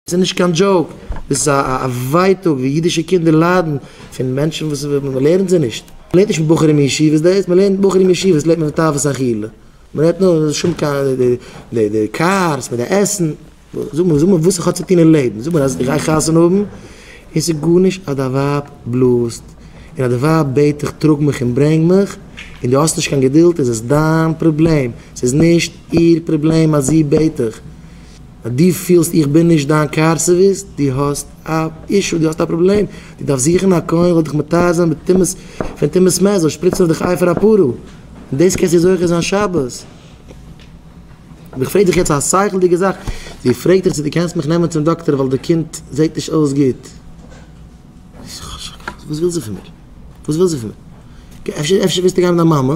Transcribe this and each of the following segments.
ס'איז נישט קיין דזשאוק, ס'איז א ווייטאג ווי אידישע קינדער ליידן פון מענטשן וואס מ'לערנט זיי נישט. מ'לערנט נישט בחורים אין ישיבות דאס, מ'לערנט בחורים אין ישיבות לערנט מען תאוות אכילה, מ'רעדט נאר אין שום קיין די קארס מיט די עסן, זאג מיר זאג מיר וואס איך האב צו טון אין לעבן, זאג מיר אז איך גיי חתונה האבן און ס'איז גארנישט אז דיין ווייב בלאזט און אז די ווייב בעט דיך טראג מיך און ברענג מיך און דו האסט נישט קיין געדולד איז עס דיין פראבלעם, ס'איז נישט איר פראבלעם אז זי בעט דיך. אז דו פילסט איך בין נישט דיין קאר סערוויס, דו האסט א אישו, דו האסט א פראבלעם, דו דארפסט זוכן א כהן זאל דיך מטהר זיין בטומאת פון טומאת מת, זאל שפריצן אויף דיך אייפער א פרעה, און דאס קענסטו זוכה זיין שבת. אבער איך פרעג דיך יעצט א שכל'דיגע זאך, זי פרעגט דיך צו דו קענסט מיך נעמען צום דאקטער ווייל די קינד זעט נישט אויס גוט. וואס וויל זי פון מיר? וואס וויל זי פון מיר? אפשר אפשר ווילסטו גיין מיט דיין מאמע?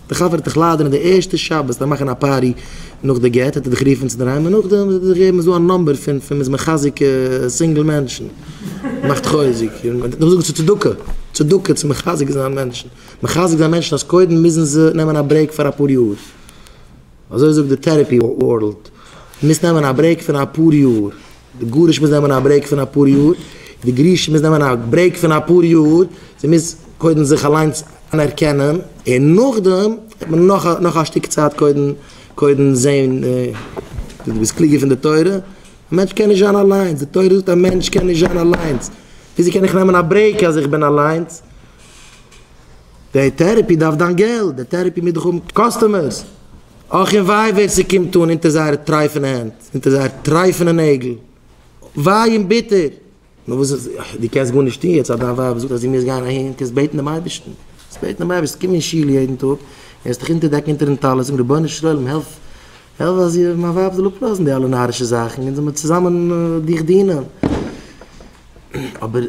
די חבר האט דיך ליידער אין די ערשטע שבת פאר מאכן א פארטי נאך די גט האט ער דיך גערופן צו אינדערהיים און נאכדעם האט ער דיך געגעבן איז דא א נאמבער פון פון מ'איז מחזק סינגל מענטשן מאכט חוזק און מ'דארף זאגן ס'איז צדקה צדקה צו מחזק זיין מענטשן מחזק זיין מענטשן אז קודם מוזן זיי נעמען א ברעיק פאר אפאר יאר אזוי זאגט די טערעפי ווארלד מ'מוז נעמען א ברעיק פון אפאר יאר. די גרוש מוז נעמען א ברעיק פון אפאר יאר, די גרושה מוז נעמען א ברעיק פון אפאר יאר, זי מוז קודם זיך אליינס אנערקענען, און נאכדעם וועט מען נאך א שטיק צייט קודם קודם זעהן צו דו ביסט קלוגער פון די תורה, א מענטש קען נישט זיין אליינס, די תורה זאגט א מענטש קען נישט זיין אליינס, וויאזוי קען איך נעמען א ברעיק אז איך בין אליינס? די טערעפי דארף דיין געלט, די טערעפי מוז דאך האבן קאסטומערס, אך און וויי ווער ס'קומט אן אונטער זייערע טרייפענע הענט. זענט איר זייער טרייפענע נעגל. וויי און ביטער. נאר וואס איז, דו קענסט גארנישט טון יעצט אז דיין ווייב זאגט אז דו מוזט גיין אהין, קענסט בעטן דעם אייבערשטן. קענסט בעטן דעם אייבערשטן, קום אין שול יעדן טאג, און העסט דיך אונטערדעקן אונטערן טלית, זאגן, רבונו של עולם, העלף, העלף אז איך, מיין ווייב זאל אפלאזן די אלע נארישע זאכן, אונז זאל מיר צוזאמען דיך דינען. אבער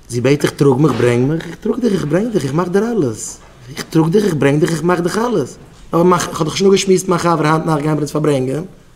זי בעט דיך, טראג מיך, ברענג מיך, איך טראג דיך, איך ברענג דיך, איך מאך דיר אלעס. איך טראג דיך, איך ברענג דיך, איך מאך דיך אלעס. אבער איך האב דאך שוין אפגעשמועסט מיט מיין חבר היינט נאכט גייען מיר אונז פארברענגען.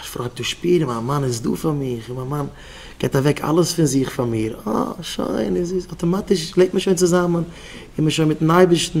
א פרוי טאר שפירן מיין מאן איז דא פאר מיך און מיין מאן געבט אוועק אלעס פון זיך פאר מיר, אה שוין איז עס אטאמאטיש לעבט מען שוין צוזאמען איז מען שוין מיטן אייבערשטן.